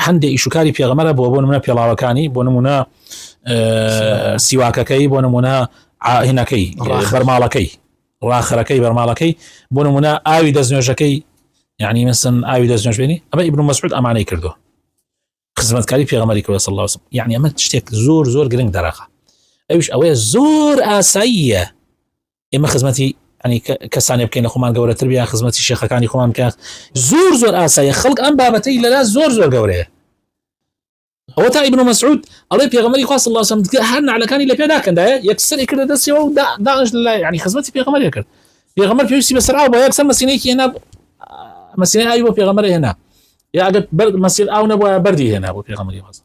هەندێ ئیش و کاری پێغەمەرە بۆ بۆ نمونە پێڵاوەکانی بۆ نمونە سیواکەکەی بۆ نمونە هینەکەی بەرماڵەکەی ڕاخەرەکەی بەرماڵەکەی بۆ نمونە ئاوی دەستنوێژەکەی یعنی مثل ئاوی دەستنوێژێنی ئەمە ئیبن مەسعود ئەمانەی کردو خزمەتکاری پێغەمەری کردە سەڵ لاسم یعنی ئەمە شتێک زۆر زۆر گرنگ دەراقە ئەوش ئەوەیە زۆر ئاساییە ئێمە خزمەتی ئەنی کەسانێ بکەین لە خۆمان گەورەتر بیا خزمەتی شێخەکانی خۆمان بکات زۆر زۆر ئاسایە خەڵک ئەم بابەتەی لەلا زۆر زۆر گەورەیە ئەوە تا ئیبن مەسعود ئەڵێ پێغەمەری خواست الله سم دیکە هەر نعلەکانی لە پێداکەندایە یەکسەری کردە دەستەوە و داش لە ینی خزمەتی پێغەمەری کرد پێغەمەر پێویستی بەسەر ئاو بۆ یەکسەر مەسینەیەکی هێنا مەسینە ئاوی بۆ پێغەمەر هێنا یا ئەگەر مەسیر ئاو نەبووە بەردی هێنا بۆ پێغەمەری خواست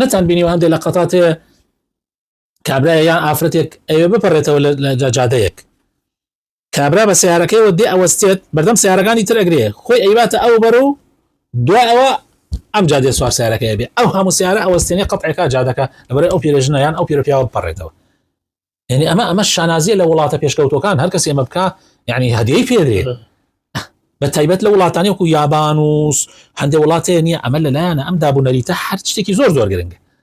نەتان بینیوە هەندێک لە قەتات هەیە کابرایە یان ئافرەتێک ئەوێ بپەڕێتەوە لە جاجادەیەک کابرا بە سیارەکەیەوە دێ ئەوەستێت بەردەم سیارەکانی تر ئەگرێ خۆی ئەیباتە ئەو بەر و دو ئەوە ئەم جادێ سوار سیارەکەی بێ ئەو هەموو سیارە ئەوەستێنێ قەتعێکا جادەکە لەبەر ئەو پیرێژنە یان ئەو پیرۆپیاوە بپەڕێتەوە یعنی ئەمە ئەمە شانازیە لە وڵاتە پێشکەوتەکان هەر کەس ئێمە بکە یعنی هەدیەی پێدرێ بە تایبەت لە وڵاتانی وکو یابانوس هەندێک وڵاتێ نیە ئەمە لەلایەنە ئەم دابوونەریتە هەر شتێکی زۆر زۆر گرنگە